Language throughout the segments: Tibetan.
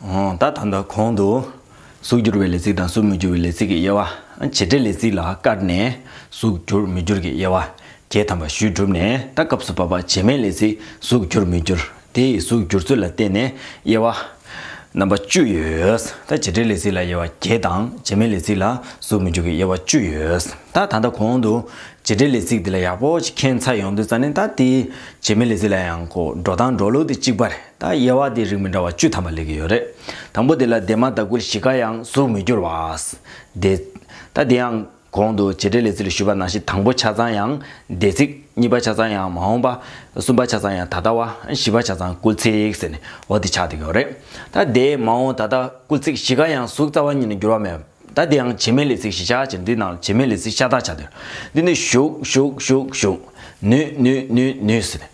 ད་ད་ད་གོང་དུ་གཟུགས་བསྒྱུར་བའི་ལས་ཚིག་དང་གཟུགས་མི་བསྒྱུར་བའི་ལས་ཚིག་གི་དབྱེ་བ་བྱེད་འབྲེལ་ལས་ཚིག་ལ་བཀར་ནས་གཟུགས་བསྒྱུར་མི་བསྒྱུར་གྱི་དབྱེ་བ་གྱེས་དམ་པ་ཞུས་གྲུབ་ནས་ད་སྐབས་སུ་བབ་པ་བྱེ་སྨྲའི་ལས་ཚིག་གཟུགས་བསྒྱུར་མི་བསྒྱུར་དེ་ཡི་གཟུགས་འགྱུར་ཚུལ་ལ་བརྟེན་ནས་དབྱེ་བ། རྣམ་པ་བཅུ་ཡོད། ད་བྱེད་བྲལ་ལས་ཚིག་ལ་དབྱེ་བ་བརྒྱད་དང་བྱེད་མེད་ལས་ཚིག་ལ་གཟུགས་མི་འཇུག་གི་དབྱེ་བ་བཅུ་ཡོད། ད་ད་ལྟ་གོང་དུ། བྱེད་བྲལ་ལས་ཚིག་འདི་ལ་ཡག་པོ་ཞིག་མཁྱེན་ཚར་ཡོང་དུས་རྩ་ནས་ད་དེ། བྱེད་མེད་ལས་ཚིག་ལ་ཡང་གོ། འགྲོ་སྟངས་འགྲོ་ལུགས་དེ་གཅིག་པ་རེད། ད་དབྱེ་བ་དེ་རིགས་མི་འདྲ་བ་བཅུ་ཐམ་པ་ལས་ཀྱི་ཡོད་རེད། དང་པོ་དེ་ལ་འདས་མ་ད་ཀུན་གཞི་ཀ་ཡང་གཟུགས་མི་འགྱུར་བ། འདས། ད་དེ་ཡང། གོང་དུ་བྱེད་འབྲེལ་ལས་ཚིག་ལ་ཞུ་བ་ནང་བཞིན་དང་པོ་ཆ་ཚང་ཡང་སྡེ་ཚིག། གཉིས་པ་ཆ་ཚང་ཡང་མ་འོངས་པ། གསུམ་པ་ཆ་ཚང་ཡང་ད་ལྟ་བ། བཞི་པ་ཆ་ཚང་སྐུལ་ཚིག་ཟེར་ནས་འོག་འདི་ཆགས་འདུག་ཡོད་རེད། ད་ལྟའི་མ་འོངས་ད་ལྟ་སྐུལ་ཚིག་བཞི་ཀ་ཡང་གཟུགས་རྩ་བ་གཉིས་ནས་འགྱུར་བ་མེད། ད་དེའང་བྱེད་མའི་ལས་ཚིག་བཞི་ཆགས་ཕྱིར་འདི་ནང་བྱེད་མའི་ལས་ཚིག་ཤ་སྟག་ཆགས་འདུག་འདི་ནི་བཞུགས་བཞུགས་བཞུགས་བཞུགས། ནུས་ནུས་ནུས་ནུས་ཟེར།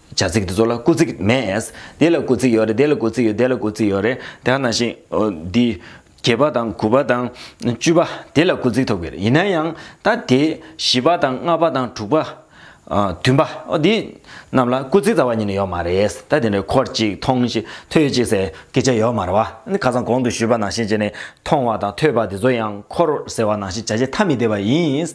བྱ་ཚིག་འདི་ཚོ་ལ་སྐུ་ཚིག་མེད། དེ་ལ་སྐུ་ཚིག་ཡོད་རེད་དེ་ལ་སྐུ་ཚིག་ཡོད་དེ་ལ་སྐུ་ཚིག་ཡོད་རེད་དེ་ག་ནང་བཞིན་འདི། བརྒྱད་པ་དང་དགུ་པ་དང་བཅུ་པ་དེ་ལ་སྐུ་ཚིག་ཐོབ་གི་རེད་ཡིན་ན་ཡང་ད་དེ་བཞི་པ་དང་ལྔ་པ་དང་དྲུག་པ། བདུན་པ་འོ་འདི། རྣམས་ལ་སྐུ་ཚིག་རྩ་བ་ཉིད་ནས་ཡོད་མ་རེད་ད་དེ་འདྲ་འཁོར་ཅིག་མཐོང་ཅིག་ཐོས་ཅིག་ཟེར་སྐད་ཆ་ཡོད་མ་རེད་བ། ནི་ཁ་སང་གོང་དུ་ཞུས་པ་ནང་བཞིན་བྱས་ནས་མཐོང་བ་དང་ཐོས་པ་དེ་ཚོ་ཡང་འཁོར་ཟེར་བ་ནང་བཞིན་བྱ་བྱེད་ཐ་མི་དད་པ་ཡིན།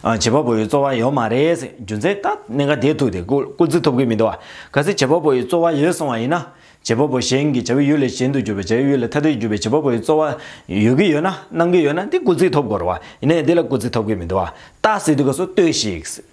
བྱེད་པ་པོ་ཡི་རྩོལ་བ་ཡོད་མ་རེད་ཟེར་རྒྱུ་མཚན་ད་གནད་འགག་དེ་ཐུག་སྟེ་སྐུལ་རྩི་ཐོབ་གི་མི་འདུག་བ། གལ་སྲིད་བྱེད་པ་པོ་ཡི་རྩོལ་བ་ཡོད་སོང་བ་ཡིན་ན། བྱེད་པ་པོ་གཞན་གྱི་བྱ་བའི་ཡུལ་ལས་གཞན་དུ་གྱུར་པའི་བྱ་བའི་ཡུལ་ལས་ཐ་དད་གྱུར་པའི་བྱེད་པ་པོ་ཡི་རྩོལ་བ་ཡོད་ཀྱི་ཡོད་ན་གནང་གི་ཡོད་ན་དེ་སྐུལ་རྩི་ཐོབ་དགོས་རེད་བ། ཡིན་ནའི་དེ་ལ་སྐུལ་རྩི་ཐོབ་གི་མི་འདུག་བ། ཏག་སེ་དུས་སྐབས་སུ་ལྟོས་ཤིག།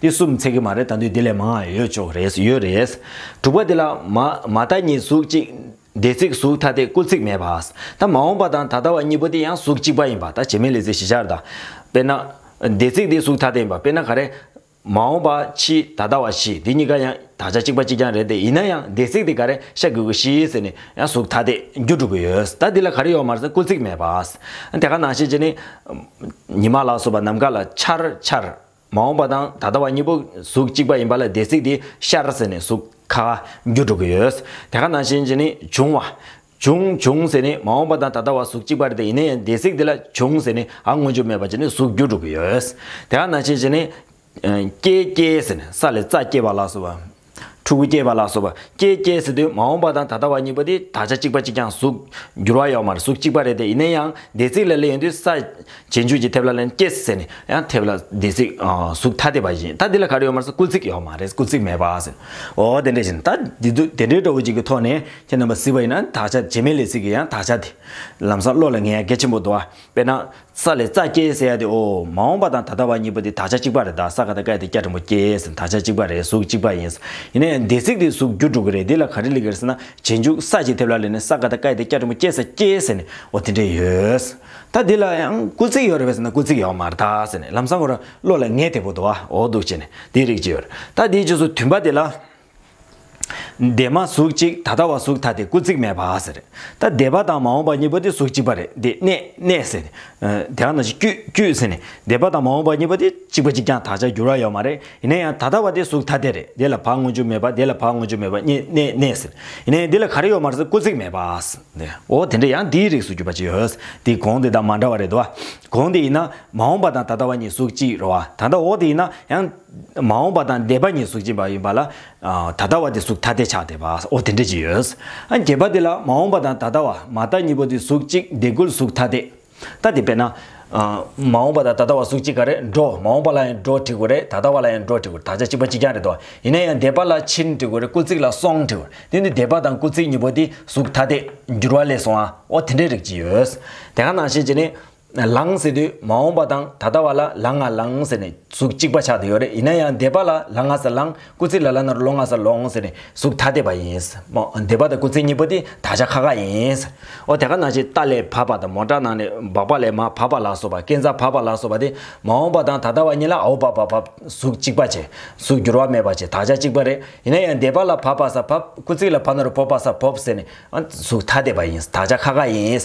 འདི་གསུམ་ཚད་ཀྱི་མ་རེད་ད་དུས་འདི་ལས་མང་ཡང་ཡོད་ཆོག་རེད་ཡོད་རེད། དྲུག་པ་འདི་ལ། མ་ད་གཉིས་གཟུགས་གཅིག། སྡེ་ཚིག་གཟུགས་ཐ་དད་སྐུལ་ཚིག་མེད་པ། ད་མ་འོངས་པ་དང་ད་ལྟ་བ་གཉིས་པོ་འདི་ཡང་གཟུགས་གཅིག་པ་ཡིན་པ་ད་བྱེ་མའི་ལས་ཚིག་བཞི་ཆར་ད། དཔེར་ན། སྡེ་ཚིག་འདི་གཟུགས་ཐ་དད་ཡིན་པ་དཔེར་ན་ག་རེ། མ་འོངས་པ་ཕྱི་ད་ལྟ་བ་ཕྱི་འདི་གཉིས་ཀ་ཡང་དག་ཆ་གཅིག་པ་གཅིག་རྐྱང་རེད་དེ་ཡིན་ན་ཡང་སྡེ་ཚིག་འདི་ག་རེ་ཤ་དགུ་དགུ་ཤི་ཟེར་ནས་ཡང་གཟུགས་ཐ་དད་རྒྱུ་དྲུག་པོ་ཡོད་ད་འདི་ལ་ག་རེ་ཡོད་མ་ཟེར་སྐུལ་ཚིག་མེད་པ། དེ་ག་ནང་བཤད་བྱས་ནི། ཉི་མ་ལ་སོགས་པ་ནམ་མཁའ་ལ་ཆར་ཆར། མ་འོངས་པ་དང་ད་ལྟ་བ་གཉིས་པོ་གཟུགས་གཅིག་པ་ཡིན་པ་ལ་སྡེ་ཚིག་དེ་ཤར་ཟེར་ནས་གཟུགས་ཁ་རྒྱུ་དྲུག་ཡོད། དེ་ཁ་ནང་བཞིན་གྱི་ནི་འབྱུང་བ། འབྱུང་བྱུང་ཟེར་ནི་མ་འོངས་པ་དང་ད་ལྟ་བ་གཟུགས་གཅིག་པར་དེ་ཡིན་ནའི་སྡེ་ཚིག་དེ་ལ་བྱུང་ཟེར་ནི་ཨ་དངོས་རྒྱུ་མེད་པ་གྱི་ནི་གཟུགས་རྒྱུ་དྲུག་ཡོད། དེ་ཁ་ནང་བཞིན་གྱི་ནི། སྐྱེས་སྐྱེས་ཟེར་ནས་ས་ལས་རྩ་སྐྱེས་པ་ལགས་སོ་བ། ཕྲུ་གུ་སྐྱེས་པ་ལ་སོགས་པ་སྐྱེས་སྐྱེས་ཟེར་དུས་མ་འོངས་པ་དང་ད་ལྟ་བ་གཉིས་པོ་དེ་དག་ཆ་གཅིག་པ་གཅིག་ཀྱང་གཟུགས། འགྱུར་བ་ཡོད་མ་རེད་གཟུགས་གཅིག་པ་རེད་དེ་ཡིན་ན་ཡང་སྡེ་ཚིག་ལ་ལས་ཡོད་དུས་ས། བྱེ་མཇུག་གྱི་ཐེབས་ལ་ལན་སྐྱེས་ཟེར་ནས་ཡང་ཐེབས་ལ་སྡེ་ཚིག། གཟུགས་ཐ་དད་པ་བཞིན་ད་འདི་ལ་ག་རེ་ཡོད་མ་རེད་ས་སྐུལ་ཚིག་ཡོད་མ་རེད་སྐུལ་ཚིག་མེད་པ་ཟེར། འོ་དེ་འདྲ་བཞིན་ད་དེ་དུས་དེ་འདྲའི་སྤྲོ་བོ་གཅིག་གི་ཐོག་ནས་ཁྱེད་རྣམ་པ་གཟིགས་པ་ཡིན་ན་དག་ཆ་བྱེ་མའི་ལས་ཚིག་གི་ཡང་དག་ཆ་དེ། ལམ་སང་བློ་ལ་ངས་གལ་ཆེན་པོ་འདུག་ཨ་དཔེར་ན། ས་ལས་རྩ་སྐྱེས་ཟེར་ཡ་དེ་ཨོ། མ་འོངས་པ་དང་ད་ལྟ་བ་གཉིས་པོ་དེ་དག་ཆ་གཅིག་པ་རེད་ད་ས་ག་ད་སྐད་དེ་སྐྱ་བྲིང་པོ་སྐྱེས་དག་ཆ་གཅིག་པ་རེད་གཟུགས་གཅིག་པ་ཡིན། ཡིན་ནའི་འདས་ཚིག་དེ་གཟུགས་རྒྱུ་དྲུག་གི་རེད་འདི་ལ་ག་རེ་ལི་གེར་ཟེར་ན་རྗེས་འཇུག་ས་ཅིག་ཐེབས་ལ་ལས་ནི་ས་ག་ད་སྐད་དེ་སྐྱ་བྲིང་པོ་སྐྱེས་ས་སྐྱེས་ཟེར་ནས་ཨོ་དེ་འདྲས་ཡོད། ད་འདི་ལ་ཡང་སྐུ་ཚིག་ཡོད་རེད་བས་ཟེར་ན་སྐུ་ཚིག་ཡོད་མ་རེད་ད་ཟེར་ནས་ལམ་སང་གོ་ར་བློ་ལ་ངེས་དེ་པོ་དུ་བ་ཨོ་འདུག་བྱས་ནས་དེའི་རིགས་ཅིག་ཡོད་རེད་ད་དེའི་རྗེས་སུ་དུས་འབའ་དེ་ལ། འདས་མ་གཟུགས་གཅིག་ད་ལྟ་བ་གཟུགས་ཐ་དེ་སྐུ་གཟིགས་མེད་པ་ཟེར། ད་འདས་པ་དང་མ་འོངས་པ་གཉིས་པོ་དེ་གཟུགས་གཅིག་པ་རེད་འདི་གནས་གནས་ཟེར། དེ་ག་ནང་བཞིན་དཀྱུས་དཀྱུས་ཟེར་ནས་འདས་པ་དང་མ་འོངས་པ་གཉིས་པོ་དེ་གཅིག་པ་གཅིག་ཀྱང་དག་ཆ་འགྱུར་བ་ཡོད་མ་རེད་ཡིན་ན་ཡང་ད་ལྟ་བ་དེ་གཟུགས་ཐ་དེ་རེད་འདི་ལ་བག་དངོས་རྒྱུ་མེད་པ་འདི་ལ་བག་དངོས་རྒྱུ་མེད་པ་གཉིས་གནས་གནས་ཟེར། ཡིན་ན་འདི་ལ་ག་རེ་ཡོད་མ་རེད་ཟེར་སྐུ་གཟིགས་མེད་པ་ཟེར། འོ་དེ་འདྲ་ཡང་འདིའི་རིགས་སུ་གྱུར་པ་ཅིག་ཡོད། འདི་གོང་དེ་དང་མ་འདྲ་བ་རེད་དོ། གོང་དེ་ཡིན་ན་མ་འོངས་པ་དང་ད་ལྟ་བ་གཉིས་གཟུགས་གཅིག་རེད་བ་ད་ལྟ་འོག་དེ་ཡིན་ན་ཡང། མ་འོངས་པ་དང་འདས་པ་གཉིས་གཟུགས་ཅན་པ་ཡིན་པ་ལ། ད་ལྟ་བ་དེ་གཟུགས་ཐ་དད་ཆགས་བསྡད་པ་འོ་དེ་འདྲ་ཅི་ཡོད། བརྒྱད་པ་དེ་ལ་མ་འོངས་པ་དང་ད་ལྟ་བ་མ་ལྟ་གཉིས་པོ་དེ་གཟུགས་གཅིག་བདེ་དགུ་ལ་གཟུགས་ཐ་དད། ད་དེ་བས་ན། མ་འོངས་པ་དང་ད་ལྟ་བ་གཟུགས་གཅིག་ག་རེད་འགྲོ་མ་འོངས་པ་ལ་ཡང་འགྲོ་དྲི་གུ་རེད་ད་ལྟ་བ་ལ་ཡང་འགྲོ་དྲི་གུ་དག་ཆ་གཅིག་པ་གཅིག་རྐྱང་རེད་དོ། ཡིན་ན་ཡང་འདས་པ་ལ་ཕྱིན་དྲི་གུ་རེད་སྐུ་གཅིག་ལ་སོང་དྲི་གུ་རེད་དེ་ནི་འདས་པ་དང་སྐུ་གཅིག་གཉིས་པོ་དེ་གཟུགས་ཐ་དད། འགྱུར་བ་ལས་སོང་ཨ་འོ་དེ་འདྲ་རིགས་ཅི་ཡོད། དེ་ག་ནང་བཞིན་གྱི་ནི། ལང་ཟེར་དུས་མ་འོངས་པ་དང་ད་ལྟ་བ་ལ་ལ་ང་ལང་ཟེར་ནས་གཟུགས་གཅིག་པ་ཆགས་དུ་ཡོད་རེད་ཡིན་ན་ཡང་འདས་པ་ལ་ལ་ང་ཟེར་ལང་སྐུ་ཚེ་ལ་ལ་ནར་ལོ་ང་ཟེར་ལོང་ཟེར་ནས་གཟུགས་ཐ་དད་པ་ཡིན། འདས་པ་དང་སྐུ་ཚེ་གཉིས་པོ་དེ་ད་ཆ་ཁ་ཁ་ཡིན། ཨོ་དེ་ག་ན་ཆེ་རྟ་ལས་བབས་པ་དང་མོ་བྲག་ནང་ནས་འབགས་པ་ལས་མ་བབས་པ་ལགས་སོ་བ་ཀན་རྩ་བབས་པ་ལགས་སོ་བ་དེ་མ་འོངས་པ་དང་ད་ལྟ་བ་གཉིས་ལ་ཨའོ་བབས་པ་བབས་གཟུགས་གཅིག་པ་བྱེད་གཟུགས་འགྱུར་བ་མེད་པ་བྱེད་ད་ཆ་གཅིག་པ་རེད་ཡིན་ན་ཡང་འདས་པ་ལ་བབས་པ་ཟ་བབས་སྐུ་ཚེ་ལ་བབས་ནར་བོབས་པ་ཟ་བོབས་ཟེར་ནས་གཟུགས་ཐ་དད་པ་ཡིན་ད་ཆ་ཁ་ཁ་ཡིན།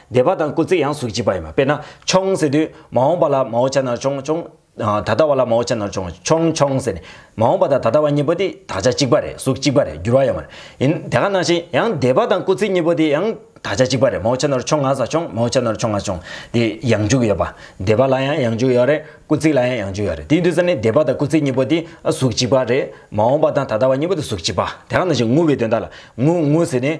སྡེ་པ་དང་སྐུ་ཚེ་ཡང་གཟུགས་བྱིས་པ་ཡིན་པ་དཔེར་ན་ཆོང་ཟེར་དུས་མ་འོངས་པ་ལ་མའོ་ཆ་ནར་ཆོང་ཆོང། ད་ལྟ་བ་ལ་མའོ་ཆ་ནར་ཆོང་ཆོང་ཆོང་ཟེར་ནས་མ་འོངས་པ་དང་ད་ལྟ་བ་གཉིས་པོ་དེ་དག་ཆ་གཅིག་པ་རེད་གཟུགས་གཅིག་པ་རེད་འགྱུར་བ་ཡོད་མ་རེད། ཡིན་དེ་ག་ནང་བཞིན་ཡང་སྡེ་པ་དང་སྐུ་ཚེ་གཉིས་པོ་དེ་ཡང་དག་ཆ་གཅིག་པ་རེད་མའོ་ཆ་ནར་ཆོང་ང་ས་ཆོང་མའོ་ཆ་ནར་ཆོང་ང་ཆོང་དེ་ཡང་འཇུག་ཡོད་པ། སྡེ་པ་ལ་ཡང་ཡང་འཇུག་ཡོད་རེད་སྐུ་ཚེ་ལ་ཡང་ཡང་འཇུག་ཡོད་རེད་དེའི་དུས་ཚོད་ནི་སྡེ་པ་དང་སྐུ་ཚེ་གཉིས་པོ་དེ་གཟུགས་གཅིག་པ་རེད་མ་འོངས་པ་དང་ད་ལྟ་བ་གཉིས་པོ་དེ་གཟུགས་གཅིག་པ་དེ་ག་ནང་བཞིན་ངུ་བའི་དོན་དག་ལ་ངུ་ངུ་ཟེར་ནས།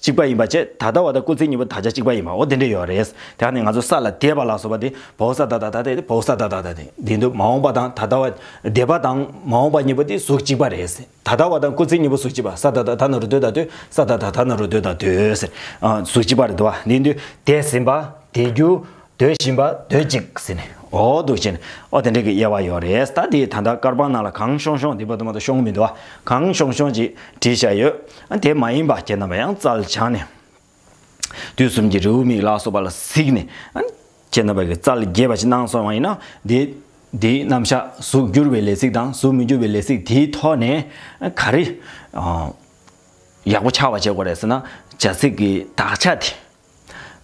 གཅིག་པ་ཡིན་པ་བཅས་ད་ལྟ་བ་དང་སྐུ་ཚེ་གཉིས་པོ་ད་ཆ་གཅིག་པ་ཡིན་པའོ་དེ་འདྲས་ཡོད་རེད། དེ་ཡང་ནི་ང་ཚོ་ས་ལ་དད་པ་ལགས་སོ་བ་དེ་བོག་ས་ད་ད་ད་དེ་བོག་ས་ད་ད་ད་དེ་འདི་འདུག་མ་འོངས་པ་དང་ད་ལྟ་བ། འདས་པ་དང་མ་འོངས་པ་གཉིས་པོ་དེ་གཟུགས་གཅིག་པ་རེད། ད་ལྟ་བ་དང་སྐུ་ཚེ་གཉིས་པོ་གཟུགས་གཅིག་པ་ས་ད་ད་ད་ན་རུ་སྡོད་ད་དུས་ས་ད་ད་ད་ན་རུ་སྡོད་ད་དུས། གཟུགས་གཅིག་པ་རེད་དོ་བ་འདི་འདུག་དད་ཟིན་པ་དད་རྒྱུ། ཟློས་བཞིན་པ་ཟློས་ཅིག་ཟེར་ནས་ཨོ་འདུག་བྱས་ནས་ཨོ་དེ་འདྲ་གི་དབྱེ་བ་ཡོད་རེད་ད་དེའི་ད་ལྟ་དཀར་པང་ནང་ལ་གངས་ཤོང་ཤོང་འདི་པ་དུ་མ་དུ་ཤོང་མི་འདུག་ཨ་གངས་ཤོང་ཤོང་ཅིག་བྲིས་བཞག་ཡོད་དེ་མ་ཡིན་པ་ཁྱེད་རྣམ་པ་ཡང་རྩལ་སྦྱངས་ནས་དུས་གསུམ་གྱི་རེའུ་མིག་ལག་སོ་པ་ལ་གཟིགས་ནས་ཁྱེད་རྣམ་པ་གྱི་རྩལ་རྒྱས་པ་ཞིག་གནང་སོང་བ་ཡིན་ན་དེ་དེའི་རྣམ་གཞག་གཟུགས་བསྒྱུར་བའི་ལས་ཚིག་དང་གཟུགས་མི་བསྒྱུར་བའི་ལས་ཚིག་དེའི་ཐོག་ནས་ག་རེ་ཡག་པོ་ཆགས་པ་བྱེད་དགོས་རེད་ཟེར་ན་བྱ་ཚིག་གི་དག་ཆ་དེ།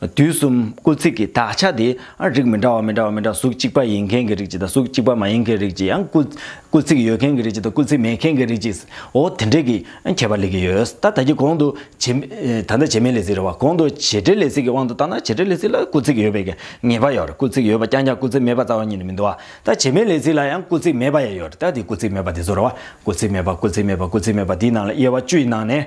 དུས་གསུམ་སྐུལ་ཚིག་གི་དག་ཆ་དེ་རིགས་མི་འདྲ་བ་མི་འདྲ་བ་མི་འདྲ་བ་གཟུགས་གཅིག་པ་ཡིན་མཁན་གྱི་རིགས་གཅིག་དང་གཟུགས་གཅིག་པ་མ་ཡིན་མཁན་རིགས་གཅིག་ཡང་སྐུལ་ཚིག་ཡོད་མཁན་གྱི་རིགས་གཅིག་དང་སྐུལ་ཚིག་མེད་མཁན་གྱི་རིགས་གཅིག་འོ་དེ་འདྲས་ཀྱི་ཁྱད་པར་ལས་ཀྱི་ཡོད་ད་ད་ཀྱི་གོང་དུ་ད་ལྟ་བྱེ་སྨྲའི་ལས་ཚིག་རེད་བ་གོང་དུ་བྱེ་བྲལ་ལས་ཚིག་གི་དབང་དུ་བཏང་ན་བྱེ་བྲལ་ལས་ཚིག་ལ་སྐུལ་ཚིག་ཡོད་པའི་གི་ངེས་པ་ཡོད་རེད་སྐུལ་ཚིག་ཡོད་པ་རྐྱང་རྐྱང་སྐུལ་ཚིག་མེད་པ་རྩ་བ་ཉིད་ནས་མི་འདུག་བ་ད་བྱེ་སྨྲའི་ལས་ཚིག་ལ་ཡང་སྐུལ་ཚིག་མེད་པ་ཡང་ཡོད་རེད་ད་དེ་སྐུལ་ཚིག་མེད་པ་དེ་ཚོ་རེད་བ་སྐུལ་ཚིག་མེད་པ་སྐུལ་ཚིག་མེད་པ་སྐུལ་ཚིག་མེད་པ་དེའི་ནང་ལ་དབྱེ་བ་བཅུའི་ནང་ནས་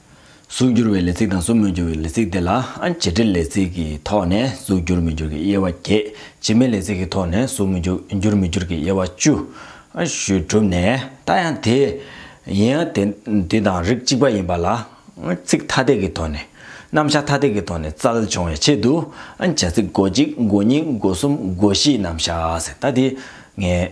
གཟུགས་བསྒྱུར་བའི་ལས་ཚིག་དང་གཟུགས་མི་བསྒྱུར་བའི་ལས་ཚིག་དེ་ལ་བྱེད་འབྲེལ་ལས་ཚིག་གི་ཐོག་ནས་གཟུགས་བསྒྱུར་མི་འགྱུར་གྱི་དབྱེ་བ་བརྒྱད། བྱེད་མེད་ལས་ཚིག་གི་ཐོག་ནས་གཟུགས་མི་བསྒྱུར་མི་འགྱུར་གྱི་དབྱེ་བ་བཅུ། ཞུས་གྲུབ་ནས་ད་ཡང་དེ་ཡིན་དེ་དང་རིགས་གཅིག་པ་ཡིན་པ་ལ། ཚིག་ཐ་དད་ཀྱི་ཐོག་ནས། རྣམ་གཞག་ཐ་དད་ཀྱི་ཐོག་ནས་རྩལ་འབྱུང་བའི་ཆེད་དུ། བྱ་ཚིག་སྒོ་གཅིག་སྒོ་གཉིས་སྒོ་གསུམ་སྒོ་བཞི་རྣམ་གཞག་ཟེར་ད་དེ།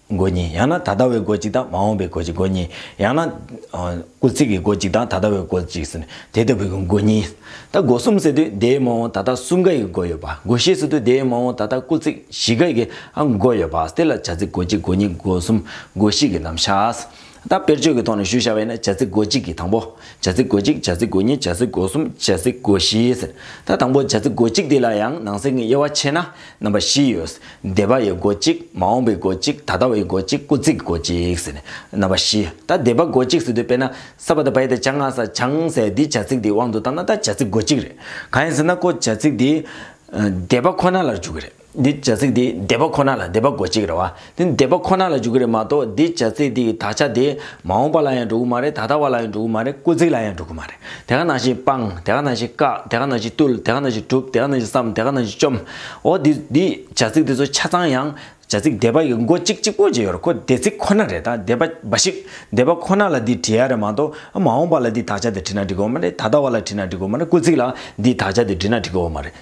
སྒོ་གཉིས་ཡང་ན་ད་ལྟ་བའི་སྒོ་གཅིག་དང་མ་འོངས་པའི་སྒོ་གཅིག་སྒོ་གཉིས་ཡང་ན། སྐུལ་ཚིག་གི་སྒོ་གཅིག་དང་ད་ལྟ་བའི་སྒོ་གཅིག་ཟེར་ནས་དེ་ལྟ་བུའི་སྒོ་སྒོ་གཉིས། ད་སྒོ་གསུམ་ཟེར་དུས་དེའི་མ་འོངས་ད་ལྟ་གསུམ་ཀ་ཡི་སྒོ་ཡོད་པ་སྒོ་བཞི་ཟེར་དུས་དེའི་མ་འོངས་ད་ལྟ་སྐུལ་ཚིག་བཞི་ཀ་ཡིའང་སྒོ་ཡོད་པ་དེ་ལ་བྱ་ཚིག་སྒོ་གཅིག་སྒོ་གཉིས་སྒོ་གསུམ་སྒོ་བཞི་གི་རྣམ་གཞག་ད་དཔེར་བརྗོད་ཀྱི་ཐོག་ནས་ཞུ་བྱ་བས་ན་བྱ་ཚིག་གོ་གཅིག་གིས་དང་པོ། བྱ་ཚིག་གོ་གཅིག་བྱ་ཚིག་གོ་གཉིས་བྱ་ཚིག་གོ་གསུམ་བྱ་ཚིག་གོ་བཞི་ཟེར། ད་དང་པོ་བྱ་ཚིག་གོ་གཅིག་འདི་ལ་ཡང་ནང་གསེས་ཀྱི་དབྱེ་བ་ཕྱེ་ན་རྣམ་པ་བཞི་ཡོད། འདས་པ་ཡི་གོ་གཅིག་མ་འོངས་པའི་གོ་གཅིག་ད་ལྟ་བའི་གོ་གཅིག་སྐུ་ཚིག་གི་གོ་གཅིག་ཟེར། རྣམ་པ་བཞི་ད་འདས་པ་གོ་གཅིག་ཟེར་དུས་དཔེར་ན་ས་པ་ད་བའི་ད་བྱ་ང་ས་བྱང་ཟེར་འདི་བྱ་ཚིག་འདིའི་དབང་དུ་བཏང་ན་ད་བྱ་ཚིག་གོ་གཅིག་རེད། གང་ཡིན་ཟེར་ན་ཀོ་བྱ་ཚིག་འདི་འདས་པ་ཁོ་ན་ལ་འཇུག་གི་རེད། འདི་བྱ་ཚིག་དེ་འདས་པ་ཁོ་ན་ལ་འདས་པ་གོ་གཅིག་རེད་བ། འདི་འདས་པ་ཁོ་ན་ལ་འཇུག་གི་རེད་མ་གཏོགས་འདི་བྱ་ཚིག་དེའི་དག་ཆ་དེ་མ་འོངས་པ་ལ་ཡང་འགྲོ་གི་མ་རེད་ད་ལྟ་བ་ལ་ཡང་འགྲོ་གི་མ་རེད་དཀོན་ཚིག་ལ་ཡང་འགྲོ་གི་མ་རེད་དེ་ག་ནང་བཞིན་སྤངས་དེ་ག་ནང་བཞིན་བཀག་དེ་ག་ནང་བཞིན་བཏུལ་དེ་ག་ནང་བཞིན་གྲུབ་དེ་ག་ནང་བཞིན་བསམ་དེ་ག་ནང་བཞིན་བཅོམ། འོ་འདི་འདི་བྱ་ཚིག་དེ་ཚོ་ཆ་ཚང་ཡང་བྱ་ཚིག་འདས་པ་ཡི་མགོ་གཅིག་གཅིག་པོ་གཅིག་ཡོད་རེད་ཁོ་འདས་ཚིག་ཁོ་ན་རེད་ད་འདས་པ་འབའ་ཞིག་འདས་པ་ཁོ་ན་ལ་འདི་བྲི་ཡ་རེད་མ་གཏོགས་མ་འོངས་པ་ལ་འདི་དག་ཆ་དེ་བྲི་ན་འགྲིག་གི་འོ་མ་རེད་ད་ལྟ་བ་ལ་བྲི་ན་འགྲིག་གི་འོ་མ་རེད་དཀོན་ཚིག་ལ་འདི་དག་ཆ་དེ་བྲི་ན་འགྲིག་གི་འོ་མ་རེད།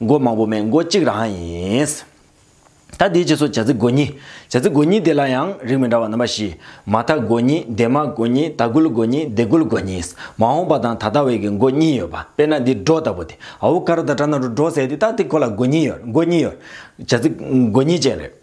མགོ་མང་པོ་མེད་མགོ་གཅིག་རང་ཡིན། ད་དེའི་རྗེས་སུ་བྱ་ཚིག་མགོ་གཉིས། བྱ་ཚིག་མགོ་གཉིས་དེ་ལ་ཡང་རིགས་མི་འདྲ་བ་རྣམ་པ་བཞི། མ་མཐའ་མགོ་གཉིས་འདས་མ་མགོ་གཉིས་ད་གུལ་མགོ་གཉིས་འདས་གུལ་མགོ་གཉིས། མ་འོངས་པ་དང་ད་ལྟ་བའི་གི་མགོ་གཉིས་ཡོད་པ་དཔེར་ན་འདི་སྒྲོ་ལྟ་བུ་སྟེ་ཨ་བུ་ཀ་ར་དང་བྲ་ན་རུ་སྒྲོ་བསྲེས་ཏེ་ད་དེ་ཁོ་ལ་མགོ་གཉིས་ཡོད་མགོ་གཉིས་ཡོད། བྱ་ཚིག་མགོ་གཉིས་ཅན་རེད།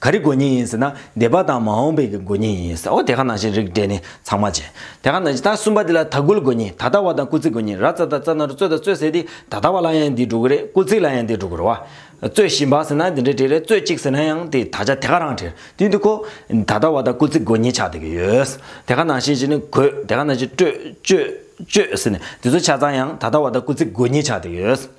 ག་རི་དགོན་གཉིས་ཡིན་ཟེར་ན་སྡེ་པ་དང་མ་འོངས་པའི་གི་དགོན་གཉིས་ཡིན་ཟེར་ཨོ་དེ་ག་ནང་བཞིན་རིགས་འགྲེ་ནི་ཚང་མ་བྱེད། དེ་ག་ནང་བཞིན་ད་གསུམ་པ་དེ་ལ་ད་དགུ་ལ་དགོན་གཉིས་ད་ད་བ་དང་སྐུ་ཚིག་དགོན་གཉིས་ར་རྩ་ད་རྩ་ན་རུ་རྩོད་ད་རྩོད་ཟེར་དེ་ད་ད་བ་ལ་ཡང་འདི་འགྲོ་གི་རེད་སྐུ་ཚིག་ལ་ཡང་འདི་འགྲོ་གི་རེད་བ། རྩོད་བཞིན་པ་ཟེར་ན་འདི་འདྲ་དྲིས་རེད་རྩོད་ཅིག་ཟེར་ན་ཡང་དེ་ད་ཆ་དེ་ག་རང་དྲིས་དུས་འདི་ཁོ། ད་ད་བ་དང་སྐུ་ཚིག་དགོན་གཉིས་ཆགས་བསྡད་ཀྱི་ཡོད། དེ་ག་ནང་བཞིན་བཞིན་ནི་གོས་དེ་ག་ནང་བཞིན་སྤྲོད་སྤྱོད་སྤྱོད་ཟེར་ནས་དེ་ཚོ་ཆ་ཚང་ཡང་ད་ད་བ་དང་སྐུ་ཚིག་དགོན་གཉིས་ཆགས་བསྡད་ཀྱི་ཡོད།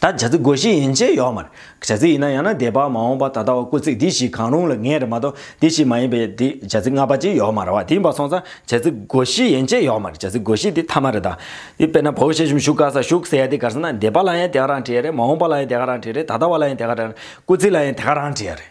ད་བྱ་ཚིག་དགོས་ཤེས་ཡིན་ཆེད་ཡོག་མ་རེད། བྱ་ཚིག་ཡིན་ན་ཡང་ན་དེ་བར་མ་འོངས་པ་ད་ལྟ་བ་སྐུ་ཚིག་འདི་ཞིག་གང་རུང་ལ་ངེས་རེད་མ་གཏོགས་འདི་ཞིག་མ་ཡིན་པའི་དེ་བྱ་ཚིག་ལྔ་པ་ཅིག་ཡོག་མ་རེད་བ་དེ་ཡིན་པ་སོང་ཙང་བྱ་ཚིག་དགོས་ཤེས་ཡིན་ཆེད་ཡོག་མ་རེད་བྱ་ཚིག་དགོས་ཤེས་དེ་མཐའ་མ་རེད་ད། དེ་དཔེར་ན་བོད་གཞས་གཞུང་བཞུགས་ག་ས་བཞུགས་ཟེར་ཡ་དེ་གར་སོང་ན་འདས་པ་ལ་ཡང་དེ་ག་རང་བྲིས་ཡ་རེད་མ་འོངས་པ་ལ་ཡང་དེ་ག་རང་བྲིས་རེད་ད་ལྟ་བ་ལ་ཡང་དེ་ག་རང་རེད་སྐུ་ཚིག་ལ་ཡང་དེ་ག་རང་བྲིས་ཡ་རེད།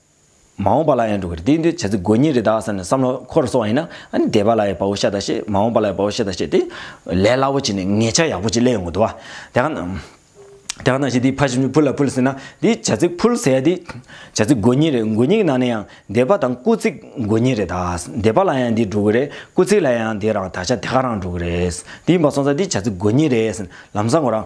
མ་འོངས་པ་ལ་ཡང་འགྲོ་གི་རེད་དེ་འདི་བྱ་ཚིག་དགོས་ངེས་རེད་དཱ་བསམ་ནས་བསམ་བློ་འཁོར་སོང་བ་ཡིན་ན་ཨ་ནི་འདས་པ་ལ་ཡི་བ་བོ་ཤ་ད་ཤེས་མ་འོངས་པ་ལ་ཡི་བ་བོ་ཤ་ད་ཤེས་དེ་ལས་སླ་བོ་བྱས་ནས་ངེད་ཅག་ཡག་པོ་ཅིག་གླས་ཡོང་གི་འདུག་བ། དེ་ག་ནང། དེ་ག་ནང་བཞིན་དེའི་ཕ་ཞིབ་ནི་ཕུལ་ལ་ཕུལ་ཟེར་ན་དེ་བྱ་ཚིག་ཕུལ་ཟེར་ཡ་དེ་བྱ་ཚིག་དགོས་ངེས་རེད་དགོས་ངེས་ཀྱི་ནང་ནས་ཡང་འདས་པ་དང་སྐུ་ཚིག་དགོས་ངེས་རེད་དཱ་འདས་པ་ལ་ཡང་འདི་འགྲོ་གི་རེད་སྐུ་ཚིག་ལ་ཡང་འདི་རང་ད་ཆ་དེ་ག་རང་འགྲོ་གི་རེད་དེ་ཡིན་པ་སོང་ཙང་དེ་བྱ་ཚིག་དགོས་ངེས་རེད་ཟེར་ལམ་སང་ངོ་རང།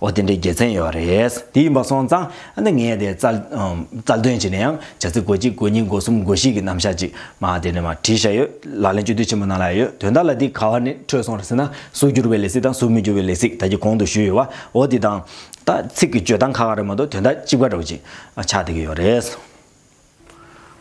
འོ་དེ་འདྲའི་དགེ་མཚན་ཡོད་རེད། དེ་ཡིན་པ་སོང་ཙང་ཨ་ནི་ངས་དེ་རྩལ་འདོན་བྱས་ནས་ཡང་བྱ་ཚིག་གོ་གཅིག་གོ་གཉིས་གོ་གསུམ་གོ་བཞི་གི་རྣམ་གཞག་ཅིག་མ་དེ་ནས་མ་བྲིས་བཞག་ཡོད། ལག་ལེན་སྤྱོད་བསྡུས་ཆེན་པོ་ནང་ལ་ཡ་ཡོད་དོན་དག་ལ་འདི་ག་བ་ནས་འཕྲོས་སོང་རེད་ཟེར་ན་གཟུགས་འགྱུར་བའི་ལས་ཚིག་དང་གཟུགས་མི་འགྱུར་བའི་ལས་ཚིག་ད་ཀྱི་གོང་དུ་ཞུས་ཡོད་བ་འོ་དེ་དང། ད་ཚིག་གི་སྤྱོད་སྟངས་ཁ་ཁ་རེད་མ་གཏོགས་དོན་དག་ལྕི་བ་འདྲ་བོ་ཅིག་ཆགས་བསྡད་ཀྱི་ཡོད་རེད།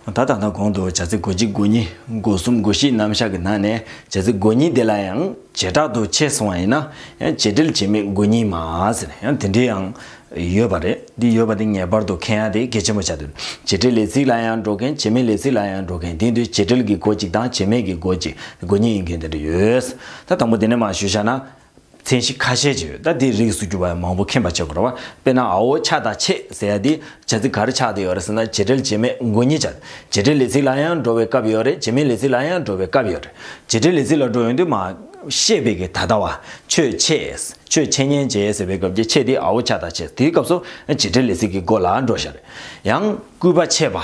ད་ལྟ་ན་གོང་དུ་བྱ་ཚིག་གོ་གཅིག་གོ་གཉིས་གོ་གསུམ་གོ་བཞིའི་རྣམ་གཞག་གི་ནང་ནས་བྱ་ཚིག་གོ་གཉིས་དེ་ལ་ཡང་བྱེ་བྲག་ཏུ་ཕྱེ་སོང་བ་ཡིན་ན་ཡང་བྱེད་འབྲེལ་བྱེད་མེད་གོ་གཉིས་མ་ཟེར་ན་ཡང་དེ་འདྲའི་ཡང་ཡོད་པ་རེད་འདི་ཡོད་པ་འདི་ངེས་པར་དུ་མཁྱེན་ཡ་དེ་གལ་ཆེན་པོ་ཆགས་འདུག་བྱེད་འབྲེལ་ལས་ཚིག་ལ་ཡང་འགྲོ་མཁན་བྱེད་མེད་ལས་ཚིག་ལ་ཡང་འགྲོ་མཁན་དེ་དུས་བྱེད་འབྲེལ་གྱི་གོ་གཅིག་དང་བྱེད་མེད་ཀྱི་གོ་གཅིག་གོ་གཉིས་ཡིན་མཁན་དེ་འདྲ་ཡོད། ད་དང་པོ་དེ་ནས་མ་ཞུ་བཞག་ན། མཚན་གཞི་ཁ་ཤས་ཀྱི་ད་ལྟའི་རིགས་སུ་གྱུར་པ་ཡང་མང་པོ་མཁྱེན་པར་བྱེད་དགོས་ར་བ་དཔེར་ན་ཨའོ་ཆ་དང་ཆེ་ཟེར་ཡ་དེ་བྱ་ཚིག་ག་རེ་ཆགས་ཏེ་ཡོད་རེད་ཟེར་ན་བྱེད་འབྲེལ་བྱེད་མེད་མགོ་གཉིས་བྱ། བྱེད་འབྲེལ་ལས་ཚིག་ལ་ཡང་འགྲོ་བའི་སྐབས་ཡོད་རེད་བྱེད་མེད་ལས་ཚིག་ལ་ཡང་འགྲོ་བའི་སྐབས་ཡོད་རེད། བྱེད་འབྲེལ་ལས་ཚིག་ལ་འགྲོ་ཡོང་དུས་མ། ཤེས་པས་ཀྱི་ད་ལྟ་བ། ཆོས་ཆེས། ཆོས་ཆེ་ཉན་བྱེད་ཟེར་བའི་སྐབས་ཀྱི་ཆེས་དེ་ཨའོ་ཆ་དང་ཆེ་དེའི་སྐབས་སུ་བྱེད་འབྲེལ་ལས་ཚིག་གི་མགོ་ལ་འགྲོ་བཞག་རེད། ཡང། སྐུད་པ་ཆད་པ།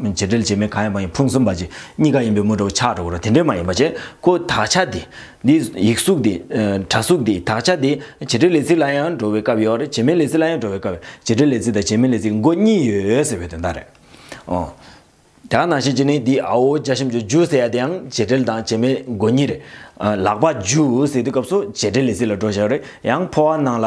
བྱེད་འབྲེལ་བྱེད་མིན་གང་ཡིན་པ་ཡང་ཕུང་གསུམ་པ་ཅིག་གཉིས་ཀ་ཡིན་པའི་མུ་དྲོ་ཆགས་དྲོ་བོར་དེ་འདྲས་མ་ཡིན་པ་བྱེད་ཀོ་དག་ཆ་དེ། འདི་ཡིག་གཟུགས་དེ། དྲ་གཟུགས་དེ་དག་ཆ་དེ་བྱེད་འབྲེལ་ལས་ཚིག་ལ་ཡང་འགྲོ་བའི་སྐབས་ཡོད་རེད་བྱེད་མིན་ལས་ཚིག་ལ་ཡང་འགྲོ་བའི་སྐབས་ཡོད་བྱེད་འབྲེལ་ལས་ཚིག་དང་བྱེད་མིན་ལས་ཚིག་མགོ་གཉིས་ཡོད་ཟེར་བའི་དོན་དག་རེད། འོན་ཀྱང་ནང་བཞིན་གྱི་ནི་འདི་ཨའོ་བརྒྱ་ཤམ་ཅུ་ཇུ་ཟེར་ཡ་དེ་ཡང་བྱེད་འབྲེལ་དང་བྱེད་མིན་མགོ་གཉིས་རེད། ལག་པ་ཇུ་ཟེར་དུས་སྐབས་སུ་བྱེད་འབྲེལ་ལས་ཚིག་ལ་འགྲོ་བཞག་རེད་ཡང་ཕོ་བ་ནང་ལ།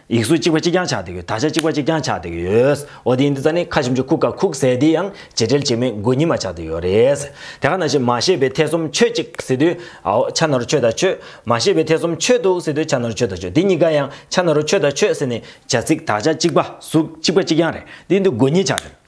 ཡིག་གཟུགས་གཅིག་པ་གཅིག་རྐྱང་ཆགས་བསྡད་ཡོད་དག་ཆ་གཅིག་པ་གཅིག་རྐྱང་ཆགས་བསྡད་ཡོད། འོ་དེ་ཡིན་དུས་ད་ནི་ཁ་ཞིམ་ཆུ་ཁུག་ཁ་ཁུག་ཟས་དེ་ཡང་བྱེད་འབྲེལ་བྱེད་མེད་མགོ་གཉིས་མ་ཆགས་བསྡད་ཡོད་རེད། དེ་ག་ན་བྱེད་མ་ཤེས་པའི་ཐེ་ཚོམ་ཆོད་ཅིག་ཟེར་དུས། ཨའོ་ཆ་ན་རུ་ཆོད་ད་ཆོད། མ་ཤེས་པའི་ཐེ་ཚོམ་ཆོད་འདུག་ཟེར་དུས་ཆ་ན་རུ་ཆོད་ད་ཆོད་དེ་གཉིས་ཀ་ཡང་ཆ་ན་རུ་ཆོད་ད་ཆོད་ཟེར་ནས་བྱ་ཚིག་དག་ཆ་གཅིག་པ་གཟུགས་གཅིག་པ་གཅིག་རྐྱང་རེད་དེ་ཡིན་དུས་མགོ་གཉིས་ཆགས་བསྡད།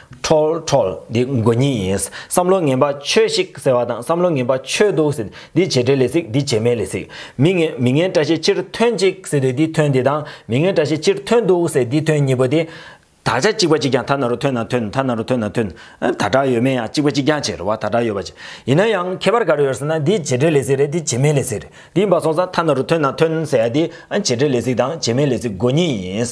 ཁྲོལ། Troll། འདི་མགོ་གཉིས་ཡིན། བསམ་བློ་ངན་པ་ཆོས་ཤིག་ཟེར་བ་དང་བསམ་བློ་ངན་པ་ཆོས་འདུག་ཟེར་འདི་བྱེད་འབྲེལ་ལས་ཚིག་འདི་བྱེད་མེད་ལས་ཚིག། མི་ངན་མི་ངན་བཀྲ་ཤིས་ཕྱིར་ཐོན་ཅིག་ཟེར་དུས་འདི་ཐོན་འདི་དང་མི་ངན་བཀྲ་ཤིས་ཕྱིར་ཐོན་འདུག་ཟེར་འདི་ཐོན་གཉིས་པོ་དེ། དག་ཆ་གཅིག་པ་གཅིག་རྐྱང་ཐ་ན་རུ་ཐོན་ན་ཐོན་ཐ་ན་རུ་ཐོན་ན་ཐོན། ད་དྲག་ཡོད་མེད་ཡང་གཅིག་པ་གཅིག་རྐྱང་བྱེད་རུ་བ་ད་དྲག་ཡོད་པ་བྱེད། ཡིན་ན་ཡང་ཁྱད་པར་ག་རེ་ཡོད་ཟེར་ན་འདི་བྱེད་འབྲེལ་ལས་ཚིག་རེད་འདི་བྱེད་མེད་ལས་ཚིག་རེད་འདི་འབའ་སོང་ཙང་ཐ་ན་རུ་ཐོན་ན་ཐོན་ཟེར་ཡ་འདི་བྱེད་འབྲེལ་ལས་ཚིག་དང་བྱེད་མེད་ལས་ཚིག་མགོ་གཉིས་ཡིན།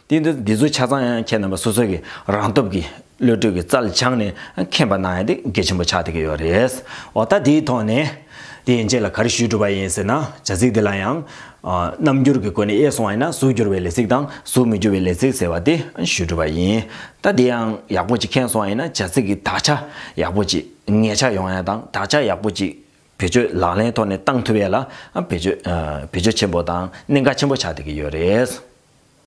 དེ་འདྲ་འདི་ཚོ་ཆ་ཚང་ཡང་ཁྱེད་རྣམ་པ་སོ་སོ་གི་རང་སྟོབས་ཀྱིས་བློ་གྲོས་ཀྱི་རྩལ་སྦྱངས་ནས་མཁྱེན་པ་གནང་ཡ་དེ་དགེ་ཆེན་པོ་ཆགས་བསྡད་ཀྱི་ཡོད་རེད། འོ་ད་དེའི་ཐོག་ནས། དེ་ཡན་ཆད་ལ་ག་རེ་ཞུས་གྲུབ་པ་ཡིན་ཟེར་ན་བྱ་ཚིག་འདི་ལ་ཡང། རྣམ་འགྱུར་གྱི་སྒོ་ནས་དབྱེ་སོང་བ་ཡིན་ན་གཟུགས་འགྱུར་བའི་ལས་ཚིག་དང་གཟུགས་མི་འགྱུར་བའི་ལས་ཚིག་ཟེར་བ་དེ་ཞུས་གྲུབ་པ་ཡིན། ད་དེ་ཡང་ཡག་པོ་ཅིག་མཁྱེན་སོང་བ་ཡིན་ན་བྱ་ཚིག་གི་དག་ཆ་ཡག་པོ་ཅིག་ངེས་ཆ་ཡོང་ཡ་དང་དག་ཆ་ཡག་པོ་ཅིག་བེད་སྤྱོད་ལག་ལེན་ཐོག་ནས་བཏང་ཐུབ་ཡ་ལ་བེད་སྤྱོད་བེད་སྤྱོད་ཆེན་པོ་དང་གནད་འགག་ཆེན་པོ་ཆགས་བསྡད་ཀྱི་ཡོད་རེད།